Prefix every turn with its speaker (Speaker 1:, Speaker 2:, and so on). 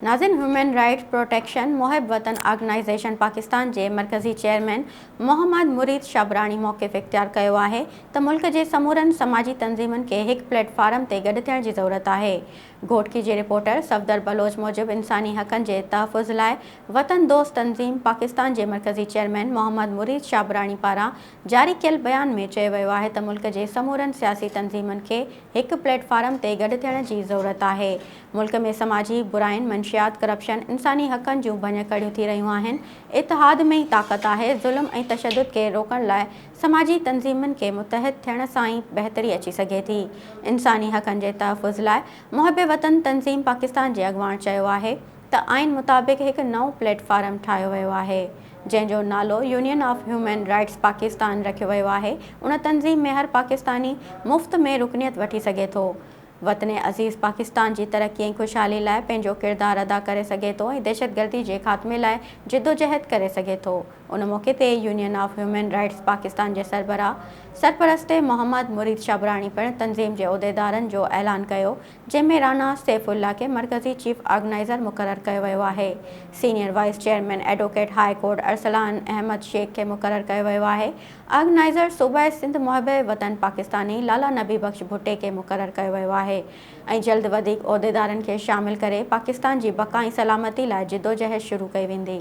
Speaker 1: ناظم human rights protection محب وطن آرگنائيزيشن پاڪستان جي مرڪزي چيئرمين محمد مريد شابراڻي موقف اختيار ڪيو آهي ته ملڪ جي سمورن سماجي تنظيمن کي هڪ پليٽ فارم تي گڏ ٿيڻ جي ضرورت آهي گهوٽڪي جي رپورٽر صفدر بلوچ موجب انساني حقن جي تحفظ لاء وطن دوست تنظيم پاڪستان جي مرڪزي چيئرمين محمد مريد شابراڻي پاران جاري ڪيل بيان ۾ چيو ويو آهي ته ملڪ جي سمورن سياسي تنظيمن کي هڪ پليٽ فارم تي گڏ ٿيڻ جي ضرورت آهي ملڪ ۾ سماجي براين، منشيات، ڪرپشن، انساني حقن جون ڀڃڪڙيون ٿي رهيون آهن، اتحاد ۾ ئي طاقت آهي، ظلم ۽ تشدد کي روڪڻ لاء سماجي تنظيمن کي متحد ٿيڻ سان ئي بهتري اچي سگهي ٿي، انساني حقن جي تحفظ لاء محب وطن تنظيم پاڪستان جي اڳواڻ چيو آهي ته آئين مطابق هڪ نئون پليٽ فارم ٺاهيو ويو آهي جنهن جو نالو union of human rights Pakistan رکيو ويو آهي، ان تنظيم ۾ هر پاڪستاني مفت ۾ رڪنيت وٺي سگهي ٿو. وطن عزيز پاڪستان جي ترقي ۽ خوشحالي لاء پنهنجو ڪردار ادا ڪري سگهي ٿو ۽ دهشتگردي جي خاتمي لاء جدوجهد ڪري سگهي ٿو. ان موقعي تي union of human rights Pakistan جي سربراهه سرپرست محمد مريد شابراڻي پڻ تنظيم جي عهديدارن جو اعلان ڪيو جنهن ۾ رانا سيف الله کي مرڪزي چيف آرگنائيزر مقرر ڪيو ويو آهي senior vice chairman advocate high court Arsalan Ahmed Shaikh کي مقرر ڪيو ويو آهي آرگنائيزر صوبائي سنڌ محب وطن پاڪستاني لالا نبي بخش ڀٽي کي مقرر ڪيو ويو آهي ۽ جلد وڌيڪ عهديدارن کي شامل ڪري پاڪستان جي بقا ۽ سلامتي لاء جدوجهد شروع ڪئي ويندي.